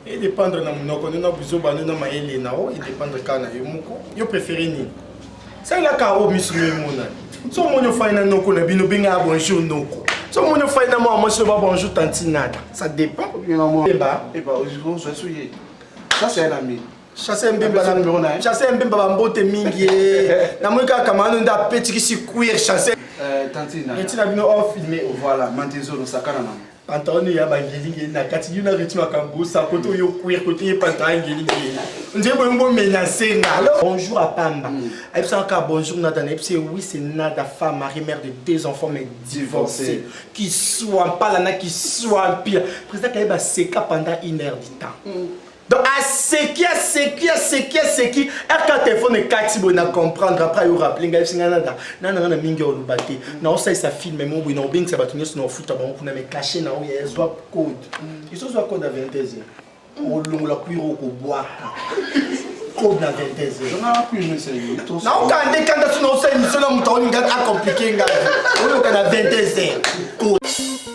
e dépendre na munoko nde na buzoba nde na mayele na o e dépendre kaka na yo moko yo préféré nini salela karo misu no emona so omoni ofai na noko na bino benga ya bonjour noko so omoni ofai na mwana mwasi oba bonjour tantinada ça dépend eba eba ozozwa so ye ça c'est un ami chasse mbemba chasse mbemba bambote mingi namoni kaka kamano nde apetikisi queer chasse etina bino ofilme voilà mantezo nosakana nango pantalon ya bangelinge na kati yo na rythme akambusa kote oyo queer kote ye pantalon ya ngelinge nde boyo mbo menace nga alors bonjour apamba mm. ayebisaka kaka bonjour nada na yebisi oui c'est nada femme marie mère de deux enfants mais divorcée qui soit mpala na qui soit mpila président kayeba seka pendant une heure du temps mm. Donc aseki aseki aseki aseki aka telefone ekati boye na comprendre après ayo rappele ngai yebisi ngai nada nana ngai na mingi oloba te naosalisa filme mo boye naobengisa bato nyonso naofuta bango kuna me cache na oyo ezwa code isozwa code ya 22 heures olongola kuiro okobwaka code na 22 naokande kanda so naosala emission na moto aolinga akomplike ngai oyoka na 22 heures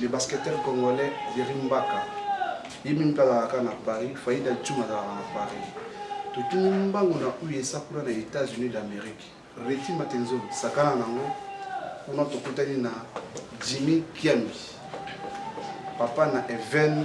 Le basketteur congolais Jerry Mbaka ye mimi mpe azalaka na Paris, Faida Djuma azalaka na Paris. Totuni mbangu na USA kuna na États-Unis d'Amérique. Reti Matenzo sakana nango kuna tokutani na Jimmy Kiambi papa na Even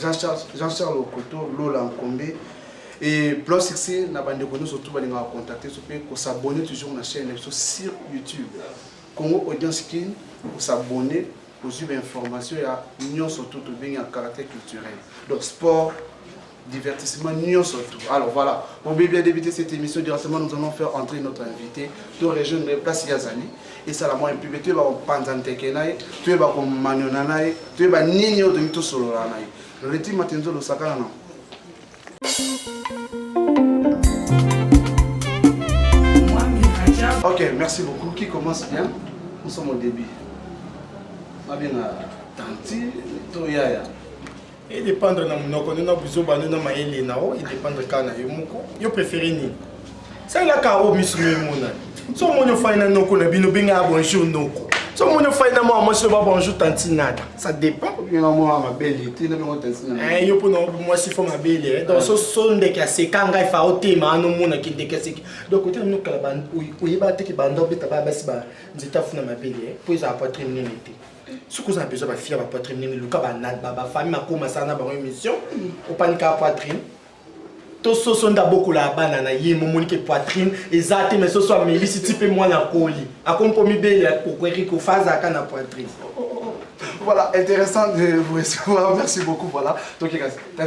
Jean-Charles Jean Charles Okoto Lola Nkombe et Blanc Sexy na bandeko nyonso tu balingaka contacte biso mpe kosabonne toujours na chaîne na biso sur YouTube Congo Audience Kin kosabonne ozwi bainformation ya nyonso tu tobengi ya caractère culturel donc sport divertissement nyonso tu alors voilà bobebi ya débute cette émission directement nous allons faire entrer notre invité to rejoindre place ya azali esala mwa implibe toyeba kopanza nteke na ye toyeba komaniona na ye toyeba nini oyo tolingi tosolola na ye reti matenzolo sakana na ok merci beaucoup qui commence bien nous sommes au début nabenga tanti to yaya e dépendre na munoko nde na buzoba nde na mayele na yo e dépendre kaka na yo moko yo préféré nini salela karo misu yo emonani so omoni ofai na noko na bino bengaka bonjour noko so omoni ofai na mwana mwasi oba bonjour tantinada ça dépend eh, yo mpona mwasi fo mabele eh. donc so ndeke aseka ngai fa otema ano omonaki ndeke aseki donc otela mino kala oyeba te ke banda obeta baya basi ba nzete afuna mabele mpo eh. ezala poitrine nene te soki oza na besoin bafia ba poitrine nini luka bafamille makoma sana bango émission opanika poitrine to soso nde abokolaka bana na ye momoni ke poitrine eza te mai soso amelisi ti mpe mwana akoli akomi mpo mibele ya kokueriko fa azalaka na poitrine oh, oh, oh. Voilà, intéressant de vous recevoir. Merci beaucoup. Voilà. Donc, il y a un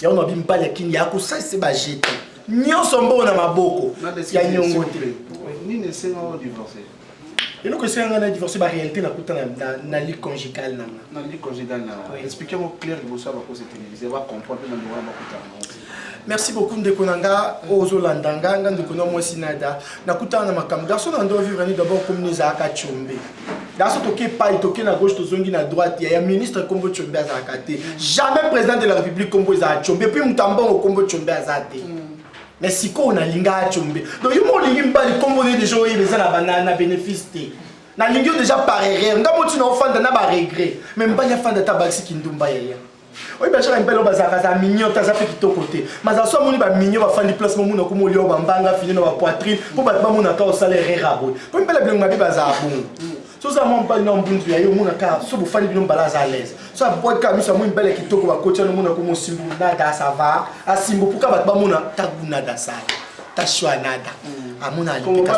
yango mabi mpale ya kini akosalisa bajete nyonso mbongo na maboko ya nyongo te nini esenga o divorce eloko esenga ngai na divorce baréalité nakuta na ligue congigale na nga na ligue congigale na nga explike yango claire liboso ya bakosi televise bacomprendre na ndeko wana bakutana merci beaucoup ndeko na nga oyo ozolanda nga nga ndeko na mwasi nada nakutana na makambo garçon na ndo vivre ni d'abord komini ezalaka combe daso toke epai toke na gauche tozongi na droite ya ministre kombo tshombe azalaka te jamais président de la république kombo ezala tshombe epuis moto ya mbongo kombo tshombe aza te mm. mais sikoyo nalinga atshombe donc yo mo olingi mibali kombo ne deja oyeba eza na bana na bénéfice te nalingi yo deja par erreur nga motina ofanda na baregret mais mibali afanda ata bakisi kindumba yaya oyebi bacaka mibali oyo bazalaka za mignon te aza mpe kitoko te mazala so amoni bamignon bafandi place momona okoma olia bambanga fini na bapoitrine mpo bato bamonaka osala erreur aboye mpo mibali ya bilengo mabe bazala bongo so oza mwa mobali na mbunzu ya ye omonaka so bofandi bino mbala aza alaise so abwaki kaka miso amoni mibali ya kitoko bakotya nomona okoma osimbu nada sava asimbu mpo kaka bato bamona tagu nada sala tashua nada amona alipeka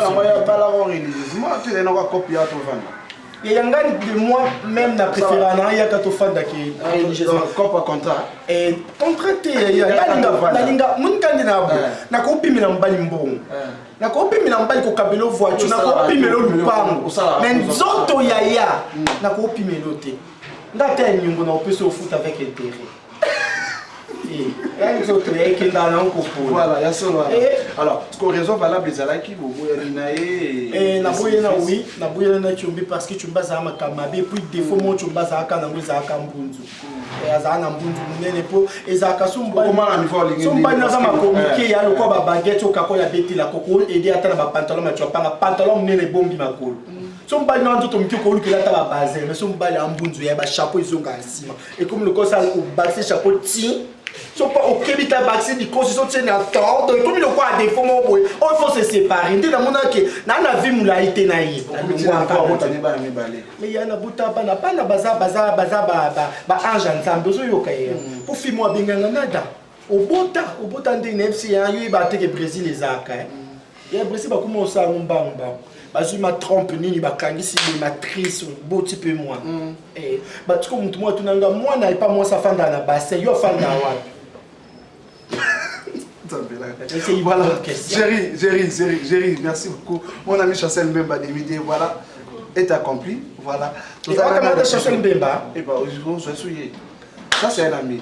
eyangani de moi même na préféra na yaka tofandaki religieusmacopa contrat contrat te nalinga monikandi na bo nakopimela mobali mbongo nakopimela mobali kokabelo voiture nakopimela lupango me nzoto yaya nakopimela te nga te ya nyongo na opesi ofuta avec intérêt voilà ya solo alors siko raison valable ezalaki boboyani na ye naboye na wi naboyana na combi parce que combi azala makambo mabe puis défaut moko combi azalaka nango ezalaka mbunzu azala na mbunzu monene mpo ezalaka sombani naza makomike ya lokola babagete okako ya betela koko ede ata na bapantalon maco apanga pantalon monene ebombi makolo so mobali na nzoto moke okolukela ata babase mais so mobali ya mbunzu ya bachapeau ezongaka nsima ekomi lokola sa obakisi chapeau ti soki okebi ta bakisi likosi so tie na temps donc ekomi lokola defo moko boye oyo fo se sépare nde namonaki na na vie molai te na ye ya nabuta bana bana baza baza baza baange ya nzambe ozoyoka ye po fimo abenganga nada obota obota ndenge na yebisi ya yo yeba te ke brésil ezalaka eh. ya brésil bakoma osala yango mbangu mbangu bazwi ma trompe nini bakangisi boye matrice boti mpe mwana mm. eh, batiko motu moko atuna nga mwana epa mwasi afanda na bassin yo afanda wapi voilà Jerry Jerry Jerry Jerry merci beaucoup mon ami Chancel Mbemba Demide voilà est accompli voilà et on a Chancel Mbemba et bah aujourd'hui on se souille ça c'est un ami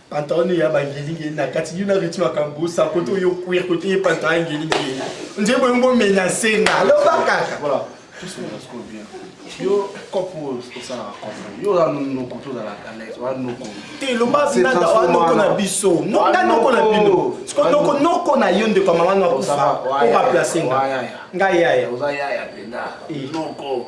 pantalon ya bangelinge na kati yo na reti makambo osa kote oyo queer kote ye pantalon ya ngelinge nde boyo bomenase nga aloba kaka yo kopo osalaka kopo yo oza noko tozalaka les oza noko te loba nanda oza noko na biso nga noko na bino siko noko noko na yo ndeko ya mama na kufa obaplace nga nga yaya oza yaya mpenza noko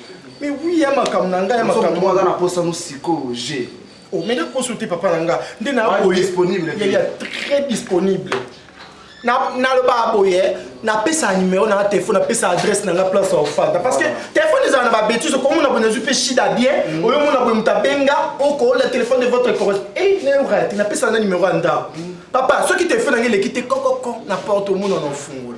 Mais oui, ya makambo na ngai ya makambo aza na posa no sikoyo je omena oh, poso te papa na nga nde naboyaya très disponible nalobaka boye napesaka numero na nga telefone napesa adresse na nga place ya ofanda parce que telefone ezala na babétise okomona boye nazwi mpe shida bien mm. oyo omona boye moto abenga okola telefone de votre correspond e nayokaka te napesaka na numero ya ndako mm. papa soki telefone yango eleki te kokoko na porte omona na ofungola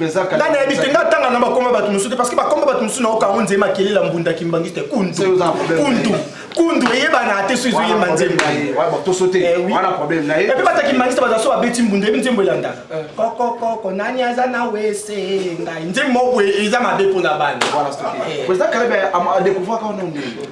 nga nayebi te nga tanga na bakoma bato mosusu te parce que bakoma bato mosusu nayoka yango nzema kelela mbunda kimbangiste kundu kundu kundu eyebana te so ezoyemba nzembo epe bata kimbangiste baza so babeti mbunda eyebi nzembo elanda eh. kokokoko nani aza na wese ngai nzembo moko eza mabe mpo na bana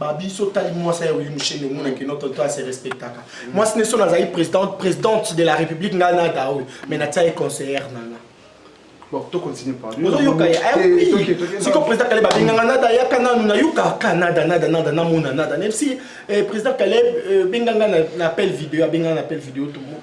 babi so otali mwasi ya wili mushende omona kino tonto ase respectaka mwasi ne so nazali présidente présidente de la république ngai na ata oyo mais natia ye conseillère na nga ozoyoka ye siko président kaleb abenganga nada ayaka nanu nayokaka nada nada nada namona nada même si président kaleb benganga na appel video abenganga na appel video tomo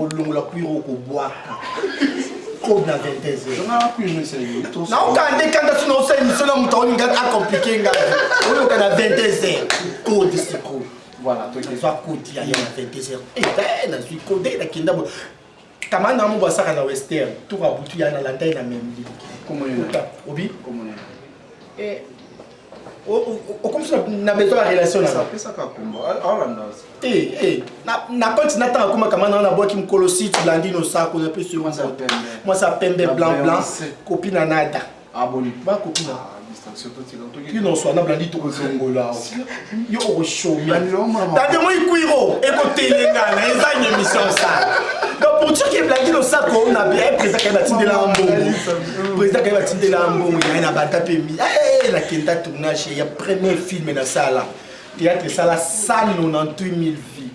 olongola kwiro okobwaka kobe na 22 naokande kanda sina osala emission na moto aolinga acomplike ngai oyoka na 22 kode sikoyo voilà tozwa kodi ya ye na 22 eh, nazwi kode nakenda bo kama na mo basaka na western toka butu ya na landai na memli obi Eh, okomisi na besoin ya relation napesaka kombo alanda na koti na ntango akoma kama nao nabwaki mokolo site blandino sako napesi yo mwasi ya pembe blanc blanc kopi na nada aboni bakopina kino swana blandi tokozongola yo okoshomia tande moi kwiro ekotelengana ezangi emission sala donc pour dire que blandi losako na bien eh, président kaye batindela mbongo président kaye batindela mbongo yaye na bata mpe mi eh, nakenda tournage ya premier film nasala théâtre esala 198000 vie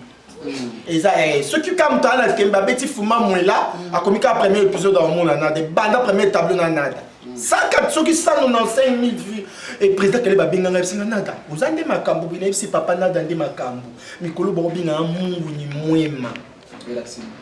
eza eh, soki kaka moto ana kembe abeti fuma mwela akomi kaka premier épisode aomona nada ebanda premier tableau na nada saka soki 195 000 vues e président kele babenga ngai bisinga nada oza nde makambo bina yebisi papa nada nde makambo mikolo baobinga ya mungu ni mwema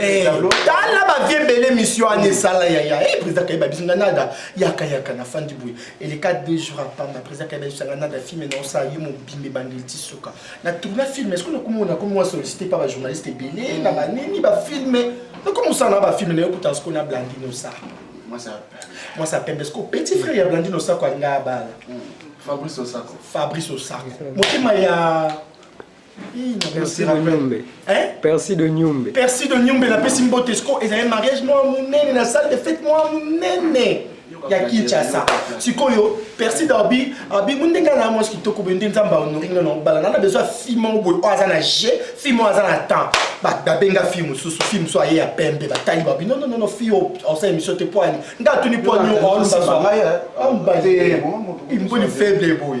Eh, tala bavie ebele misio wana esala yaya e eh, président kayeba biso nga nada yaka yaka na fandi boye eleka deux jours apamba président kayeba biso nga nada filme na osala ye mobimba ebandeli ti suka na tourna filme eske nakomona komi wa sollicité pa bajournaliste ebele na banini bafilme nakomi osala na bafilme na yo kuta siko na blandine osala mwasi apembe siko petit frère ya blandine osako alinga abala hmm. fabrice osako fabrice osako motema ya Percy de Nyumbe. Hein? Percy de Nyumbe. Percy de Nyumbe la pesi mbote siko ezali mariage mwa munene na salle de fête mwa munene ya Kinshasa. Sikoyo Percy Darby abi munde nga na mwasi kitoko boye nde nzamba honori nga na obala na na besoin fille moko boye oyo aza na je fille moko aza na temps babenga fille mosusu fille mosusu aye ya pembe batali babi non non non fille osa émission te poani nga atuni poani oyo aolobaswa imboni faible boye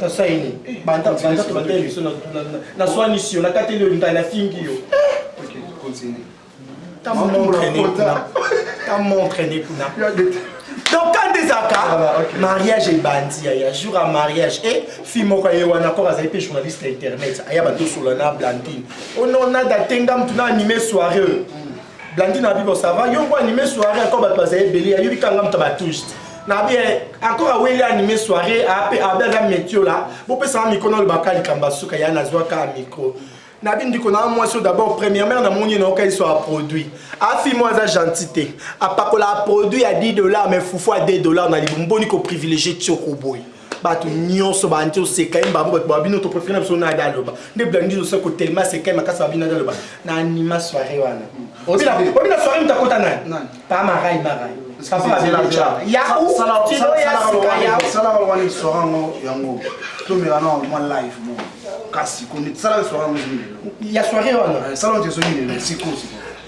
nasaini banda banda tobanda emission na na na swani sio na kateli yo linga na fingi yo ta montre ne kuna ta montre ne kuna donc quand ezaka mariage ebandi ya ya jour ya mariage e fille moko ye wana kor azali mpe journaliste ya internet aya batosola na blandine onona datenga motu na anime soirée oyo blandine abibo ça va yo ngo anime soirée encore bato bazali ebele ayobi kanga moto batouche te na bien encore aweli anime soirée ape abe aza metio la bopesaka mikro na olobaka likambo asuka ya nazwaka mikro na bino ndiko na mwasi oyo d'abord premièrement namoni ye nayoka yeso aproduit afi mwa aza gentil te apakola aproduit ya 10 dollar mais fufu ya 2 dollar na libumu boni koprivilégie tioko boye bato nyonso bandi oseka ye mbambo bato babino to préféré na biso nada aloba nde blandi osa kotelema seka ye makasi babino nada aloba na anima soirée wana obina soirée moto akota nani pa marai marai ya soirée wana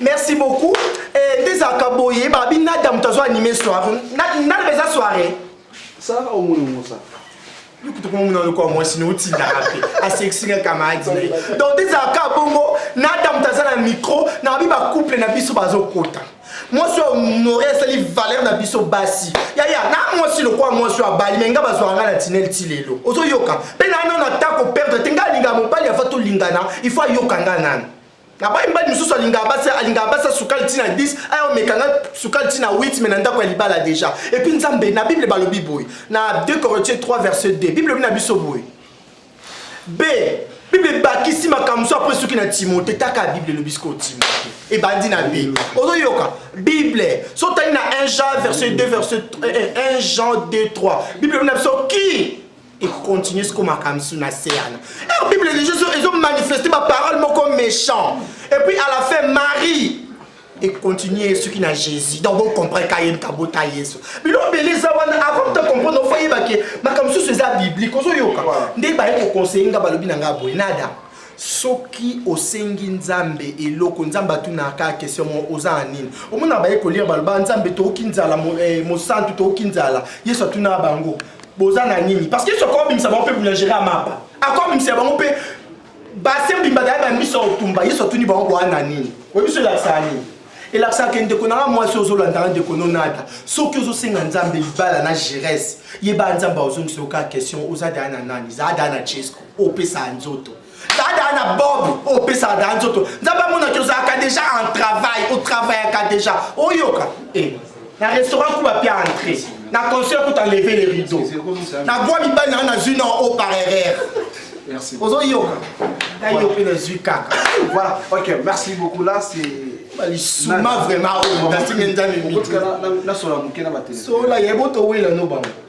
merci beaucoup eh, nde ezalaka boye babi nada moto azo anime soirée nada eza soirée sara omoni yango sara yokutokomomona lokola mwasi na otindaka mpe asekisika kamaradi na ye donc nde ezalaka bongo nada moto aza na micro na babi bacouple na biso bazokota mwasi oyo honore asali valeur na biso basi yaya na mwasi lokola mwasi oyo abali me nga bazwaka nga na tinel ti lelo ozoyoka mpe na nano ata koperdre te nga alingaka mobali afa tolingana ifo ayoka nga nano nabai mibali mosusu alingaka basi alingaka basi ya sukali ntina 10 aya omeka ngai sukali ntina 8 me na ndako ya libala deja epuis nzambe na bible balobi boye na 2 corinthien 3 verset 2 bible elobi na biso boye b bible ebakisi makambo mosusu apres soki na timote taka bible elobi sikoyo timote ebandi na b ozoyoka bible so otali na 1 jean verset 2 verset 1 eh, eh, jean 2 3 bible elobi na biso ki et continue siko makambo su na se yana er bible eligi ezo manifeste baparole moko méchant et puis à la fin marie ekontinue soki na jésus donc bocomprendre ka yeni kabota yesu bino bele eza wana avant ta comprendre ofo yeba ke makambo mosusu eza biblique ozoyoka nde baye koconseille nga balobi na nga boye nada soki osengi nzambe eloko nzambe atunaka kaka question moko oza na nini omona baye kolire baloba nzambe toyoki nzala eh, mosantu toyoki nzala yesu atunaka bango boza na nini parce que yesu akoki kobimisa bango mpe boulangerie ya mapa akoki kobimisa bango mpe base mbimba daya bamiso ya kotumba yesu atuni bango boa na nini oyebi so elakisaka nini elakisaka ke ndeko nanga mwasi ozolandaka ndeko nonata soki ozosenga nzambe libala na gerese yeba nzambe aozongisa yo kaka question oza daya na nani zaa daya na jesco opesaka nzoto dada na bob oyo opesaka dada nzoto nzambe amonaki ozalaka deja en travail otravaillaka deja oyoka eh, na restaurant kuba mpe entré na conseil kuta leve le rideau na bwa mibali nanga nazwi na o par erreur ozoyoka nayo mpe nazwi kaka voilà ok merci beaucoup là c'est balisuma vraiment oyo nasingi nzambe mitisola yebo towela no bango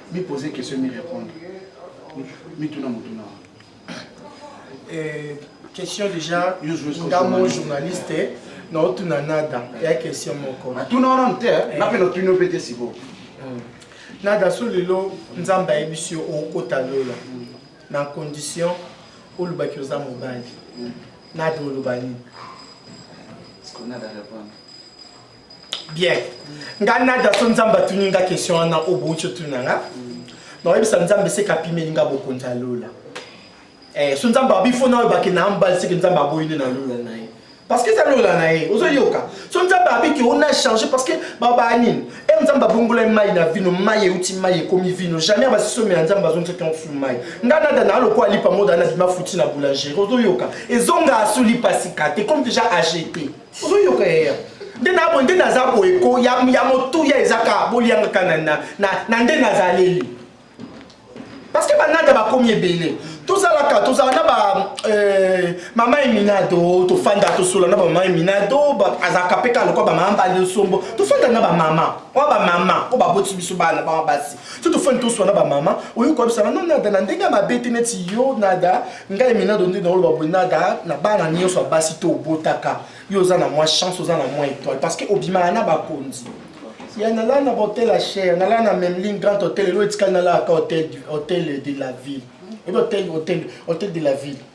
Mi poser question mi répondre. Mi tuna mutuna. Euh, question déjà nga mo journaliste na otuna nada ya question moko natuna wana mte eh. nape natuni ope te siko hmm. nada so lelo nzambe ayebisi yo okota lola hmm. na condition olobaki oza mobali hmm. nada oloba nini bien ngai nada so nzambe atuni nga question wana oyo bouti otuna nga nakoyebisa nzambe seke apimeli nga bokonzi ya lola eh, so nzambe abi fo naoyo bake na ambali seke nzambe aboyi nde na lola na ye parce que eza lola na ye ozoyoka so nzambe abi ke ona change parce que babaa nini e eh, nzambe abongolai mai na vino mai euti mai ekomi vino jamais basisomela ya nzambe bazongisaki yango fulu mai nga nada na alokola lipa moda na bima futi na boulangerie ozoyoka ezonga asuli pasika te comme déjà agete ozoyoka yaya nde nabo nde naza boye ko ya, ya motuya ezaka boliangaka na, na, na, na nde nazaleli parce que banada bakomi ebele tozalaka tozala na ba euh, mama eminado tofanda tosola na bamama eminado azalaka mpe kaka lokola bamama bali osombo tofanda na bamama oya bamama oyo baboti biso bana bama basi soki tofandi toswa na bamama oyo koyebisana no nada na ndenge ya mabe te neti yo nada ngai minado nde naoloba boye nada na bana nyonso ya basi to obotaka yo oza na mwa chance oza na mwa étoile parce que obimaka na bakonzi ya nalala na bahotel ya cher nalala na memling grand hotel elo etikali nalalaka hotel de la ville ebi hotel de la ville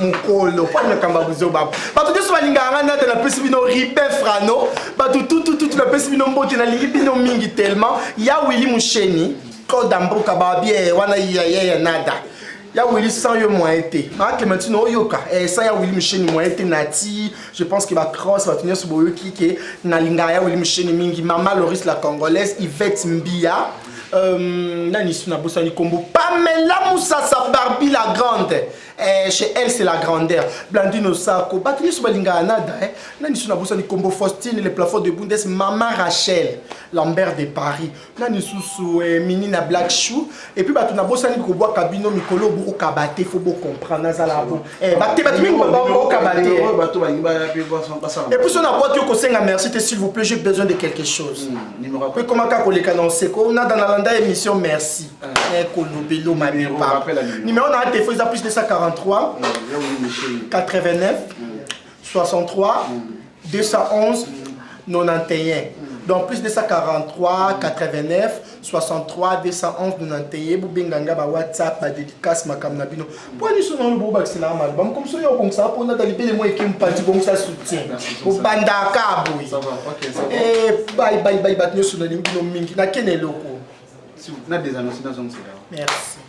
mokolo kwani makambo ya buzoba bato nyonso balingaka ngai nate napesi bino ribe frano bato tutututu napesi bino mbote nalingi bino mingi tellement ya wili musheni koda mboka babie wana yayeya nada ya wili sans yo moyen te ma clémentine oyoka eh, sans ya wili musheni moyen te nati je pense que bacross bato nyonso boyoki ke nalingaka ya wili musheni mingi mama loris la congolaise ivette mbia Euh, nani su nabosani kombo pamela musasa barbi la grande eh, chez elle c'est la grandeur blandino sako bato nyonso balingaka nada eh. nani su nabosani kombo faustine le plafond de bundes mama rachel lambert de paris nani susu eh, mini na black shoe epuis bato nabosani kobwaka bino mikolo bokokaba te fo bocomprendre nazala bo Eh, bakebaki mingi baokaba te epuis ona akwaki yo kosenga merci te s'il vous plaît j'ai besoin de quelque chose hmm, ekomaka koleka na oseko nada nalanda émission merci ah. eh, kolobelo mamepa numero na atefo eza plus 243 89 63 211 91 donc plus 243 89 63 211 91 bobenga nga ba whatsapp ba dédicace makambo na bino mpo nyonso nano bobakisela ya maloba makomi soki obongisaka mpo nata libele mwa eke mpanzi bongisa soutien obandaka boye eh, bai bai bai bato nyonso nalingi bino mingi nakende eloko na des annonces nazongisela merci